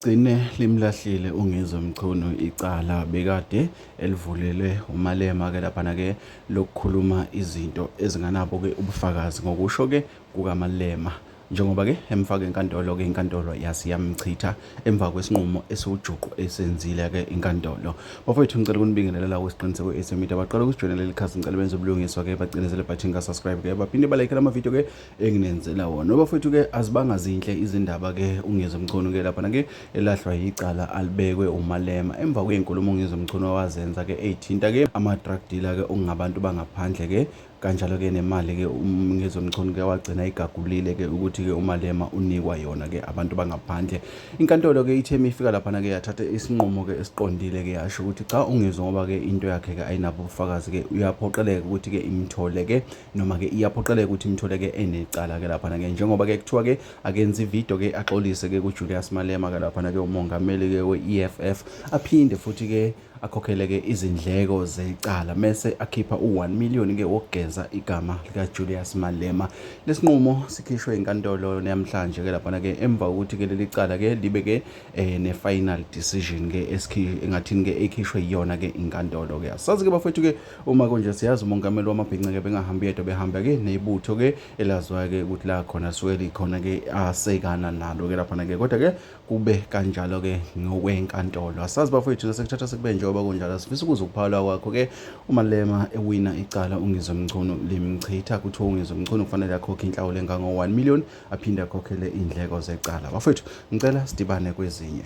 Gcine limlahlile uNgizwe Mchunu icala bekade elivulele uMalema ke laphana ke lokukhuluma izinto ezinganabo ke ubufakazi ngokusho ke kukaMalema njengoba ke emfaka enkantolo ke inkantolo yasi yamchitha emva kwesinqumo esiwujuqu esenzile ke inkantolo bafowethu ngicela ukunibingelela la kwesiqiniseko esemita baqala ukusijoyinela leli khasi ngicela benze ubulungiswa ke bacinezele button ka subscribe ke baphinde balike lama video ke enginenzela wona bafowethu ke azibanga zinhle izindaba ke ungizwe mchunu ke lapha ke elahlwa yicala alibekwe umalema emva kwezinkulumo ungizwe mchunu wawazenza ke eyithinta ke ama drug dealer ke ungabantu bangaphandle ke kanjalo ke nemali ke ungizwe mchunu ke wagcina igagulile ke ukuthi ke umalema unikwa yona ke abantu bangaphandle inkantolo ke ithe ifika lapha ke yathatha isinqumo ke esiqondile ke yasho ukuthi cha ungizwe ngoba ke into yakhe ke ayinabo ubufakazi ke uyaphoqeleka ukuthi ke imthole ke noma-ke iyaphoqeleka ukuthi imthole-ke enecala-ke laphana-ke njengoba-ke kuthiwa-ke akenza ividiyo-ke axolise-ke kujulius malema-ke laphana-ke umongameli-ke we-e f f aphinde futhi-ke akhokhele-ke izindleko zecala mese akhipha u-1 million-ke wokugeza igama likajulius malema lesinqumo sikhishwe inkantolo namhlanje-ke laphana-ke emva kokuthi-ke leli cala-ke libe-ke um ne-final decision-ke engathini-ke ekhishwe iyona-ke inkantolo-ke asazi-ke bafethu-ke Uma kunje siyazi umongameli wamabhinca-ke bengahambi yedwa behamba-ke nebutho-ke elazwayo-ke ukuthi la khona lisuke likhona-ke asekana nalo-ke laphana-ke kodwa-ke kube kanjalo-ke ngokwenkantolo asazi bafowethu nasekuthatha sekube njengoba kunjalo sifisa ukuza ukuphawula kwakho-ke umalema ewina icala ungizwe mchunu limchitha kuthiwa ungizwe mchunu kufanele akhokhe inhlawulo engango-1 million aphinde akhokhele iy'ndleko zecala bafowethu ngicela sidibane kwezinye